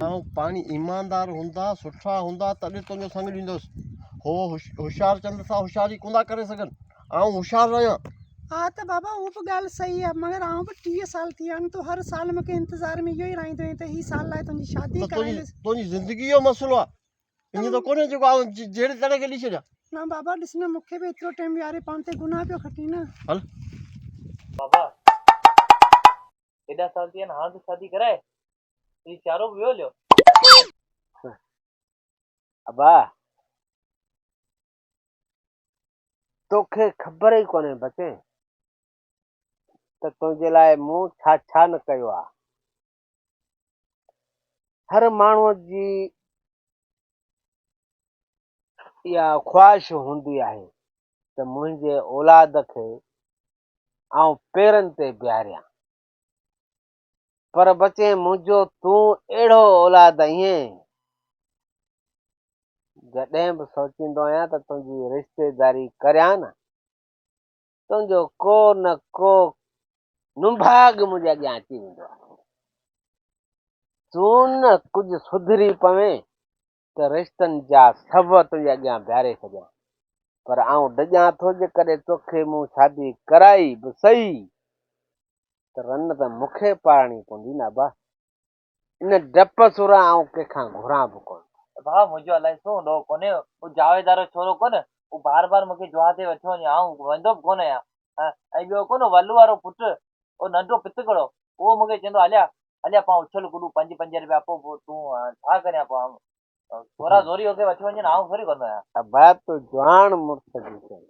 آئون پاڻي ايماندار هوندا سٺا هوندا تڏهن تنهنجو سڱ ڏيندس هو هوشيار چند سان هوشياري ڪوندا ڪري سگهن آئون هوشيار رهيان ها ته بابا اهو به ڳالهه صحيح آهي مگر آئون به ٽيهه سال ٿي ويا آهن تون هر سال مون کي انتظار ۾ اهو ئي رهندو آهين ته هي سال لاء تنهنجي شادي ڪرائيندس تنهنجي زندگي جو مسئلو آهي ايئن ته ڪونهي جيڪو آئون جهڙي تهڙي کي ڏئي ڇڏيان نه بابا ڏس نه مون کي به ايترو ٽائيم ويهاري پاڻ تي گناهه پيو کٽين نه هل بابا ايڏا سال ٿي ويا آهن هاڻ ته شادي ڪرائي تنهنجي چارو به ويو هليو ابا توکي خبر ئي ڪونهي بچي ته تنهنجي لاء مون ڇا ڇا نه ڪيو آهي هر ماڻهو جي اها خواهش هوندي آهي ته منهنجي اولاد کي آئون پيرن تي بيهاريان پر بچي منهنجو تون اهڙو اولاد آهين جڏهن به سوچيندو آهيان ته تنهنجي رشتيداري ڪريان نه تنهنجو ڪو نه ڪو نڀاڳ منهنجي اڳيان اچي ويندو آهي تون نه ڪجهه سڌري پوين ته رشتن جا سب تنهنجي اڳيان بيهاري سگهيان پر آئون ڊڄان ٿو جيڪڏهن توکي مون شادي ڪرائي به سهي ته رن ته مونکي پاڙڻي پوندي نه ابا ان ڊپ سورا آئون ڪنهن کان گهران به ڪونه ٿو. ته ڀاء منهنجو الائي ڇو هونڏو ڪونهي اهو جاويد وارو ڇورو ڪونه اهو بار بار مونکي جوها تي وٺيو وڃي آئون ويندو به ڪونه آهيان ۽ ٻيو ڪونه ولو وارو پٽ اهو ننڍو پتڪڙو اهو مونکي چوندو هليا هليا پان اڇل گڏو پنج پنج رپيا پوء تون ڇا ڪريان پوء آئون ڇورا زوري هوڪي وٺي وڃن آئون ٿوري ڪندو آهيان ابا تو جوان مڙس جي چوڻ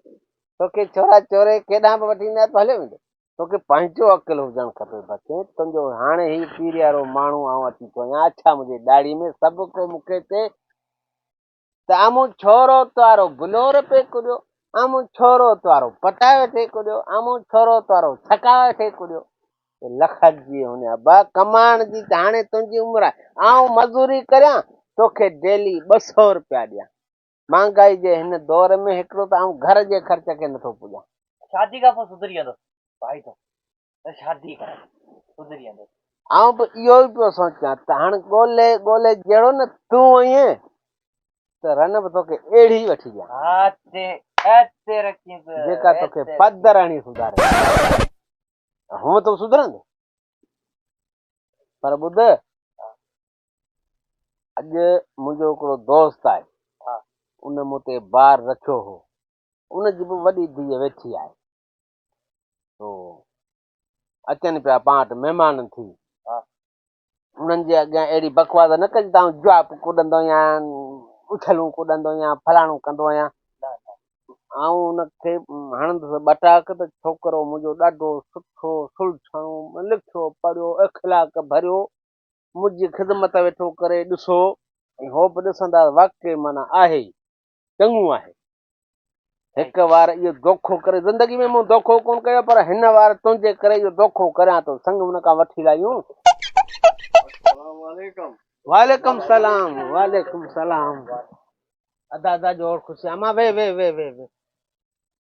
توکي ڇورا چوري ڪيڏانهن به وٺي نه هليو ويندو توکي پنهنجو عقل هجڻ کپي بچي تنهنجو هاڻي هي پيريارو ماڻهو آئون اچي ٿو وڃان اڇا منهنجي ڏاڙهي ۾ سڀ ڪو مون کي چي ته امون ڇورو توارو بلور پي ڪڏيو امون ڇورو توارو پٽايو ٿي ڪڏيو امون ڇورو توارو ڇڪايو ٿي ڪڏيو لکت جي هن ابا ڪمائڻ جي ته هاڻي تنهنجي عمر آهي. آئون مزوري ڪريان، توکي ڊيلي ٻه سئو روپيا ڏيان. مهانگائي جي هن دور ۾ هڪڙو ته آئون گهر جي خرچ کي نٿو پڄان. شادي کان پوء سڌري ويندس ڀائي ٿو ته شادي ڪر سڌري ويندس. آئون به اهو ئي پيو سوچيان ته هاڻ ڳولي ڳولي جهڙو نه تون هئين ته رن به توکي اهڙي وٺي ڏيان. ها تي ها تي رکين ته. جيڪا توکي پدر هڻي سڌاري. هونء تون سڌرندين پر ٻڌ اڄ منهنجو هڪڙو دوست آهي ان مون تي بار رکيو هو ان جي به وڏي ڌيء ويٺي آهي تو اچن پيا پاڻ وٽ مهمان ٿي انهن جي اڳيان اهڙي بڪواس نه ڪجي ته آئون جواپ ڪڏندو آهيان اڇلون ڪڏندو آهيان فلاڻو ڪندو آهيان آئون ان کي هڻندس ٻٽاڪ ته ڇوڪرو منهنجو ڏاڍو سٺو سلجھڻو لکيو پڙهيو اخلاق ڀريو منهنجي خدمت ويٺو ڪري ڏسو ۽ هو به ڏسندا واقعي معنيٰ آهي چڱو آهي. هڪ وار اهو دوکو ڪري زندگي ۾ مون دوکو ڪون ڪيو پر هن وار تنهنجي ڪري اهو دوکو ڪريان ٿو سنگ ان کان وٺي لاهيون. السلام عليڪم. وعليڪم سلام وعليڪم سلام ادا ادا جوڙ خوشيان مان وي وي وي وي وي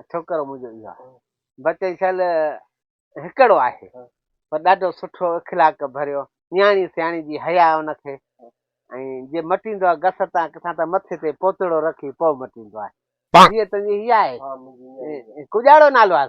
۽ ڇوڪرو منهنجو اهو آهي بچي شل هڪڙو آهي پر ڏاڍو سٺو اخلاق ڀريو نياڻي سياڻي جي حيا ان کي ۽ جي مٽيندو آهي گس تان ڪٿان ته مٿي تي پوتڙو رکي پوء مٽيندو آهي ڌيء تنهنجي هي آهي ڪجاڙو نالو آهي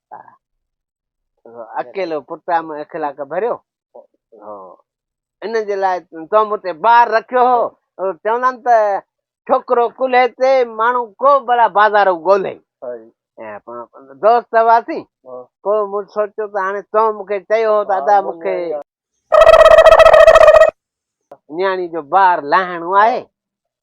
اڪيلو پٽ آ مون اخلاق ڀريو ان جي لاء تو مون تي بار رکيو هو چوندا آهن ته ڇوڪرو ڪلهي تي ماڻهو کو بلا بازار ڳولي دوست هئاسين پوء مون سوچيو ته هاڻي تو مون کي چيو هو ته ادا مون کي نياڻي جو بار لاهڻو آهي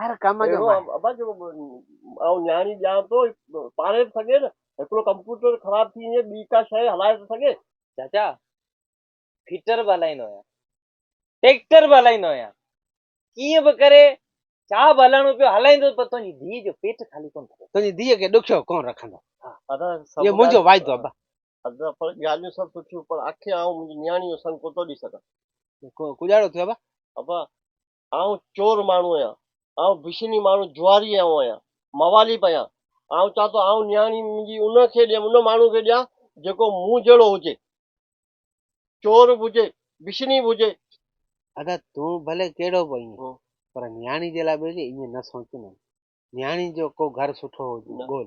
هر ڪم جو ماهر. ابا جيڪو آئون نياڻي ڏيان ٿو هي پاڙهي ٿو سگهي نه؟ هڪڙو ڪمپيوٽر خراب ٿي وڃي ٻي ڪا شيء هلائي ٿو سگهي؟ چاچا فٽر به هلائيندو آهيان ٽيڪٽر به هلائيندو آهيان ڪيئن به ڪري ڇا به هلائڻو پيو هلائيندس پر تنهنجي ڌيء جو پيٽ خالي ڪونه ٿيندو. تنهنجي ڌيء کي ڏکيو ڪونه رکندس اهو منهنجو واعدو آهي ابا. ادا پر ڳالهيون سڀ سٺيون پر آخر آئون منهنجي نياڻي جو سڱ ڪوتو ڏئي سگهان. ڪوجهاڙو ٿيو ابا. ابا آئون چور ماڻهو آهيان، آئون بشني ماڻهو جواري آئون آهيان، موالي به آهيان، آئون چاهيان ٿو آئون نياڻي منهنجي ان کي ڏيان، ان ماڻهو کي ڏيان جيڪو مون جهڙو هجي، چور به هجي، بشني به هجي. ادا تون ڀلي ڪهڙو به آهين، پر نياڻي جي لاء ٻيلي ائين نه سوچ نه، نياڻي جو ڪو گهر سٺو هجي ڳول.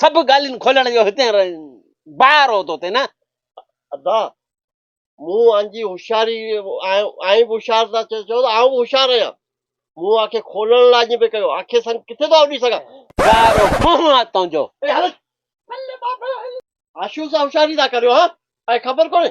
سڀ ڳالهين کولڻ جو هتين بار هو توتي نه؟ ادا مون انجي هوشياري آئين به هوشيار ٿا چيو ته آئون به هوشيار آهيان مون آکي کولڻ لاء اڄ به ڪيو آکي سنگ ڪٿي ٿو اڏي سگهان بار هو منهن آ تنهنجو. آشو سان هوشياري ٿا ڪريو ها ۽ خبر ڪونهي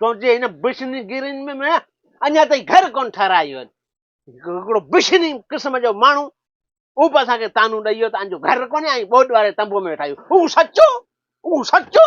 تنهنجي هن بشني گيرين ۾ ميان اڃا تائين گهر ڪون ٺهرايو آهن هڪڙو بشني قسم جو ماڻهو او به اسان کي تانو ڏئي ويو ته انجو گهر ڪونهي ۽ ٻوڏ واري تنبو ۾ ويٺا آهيون هو سچو هو سچو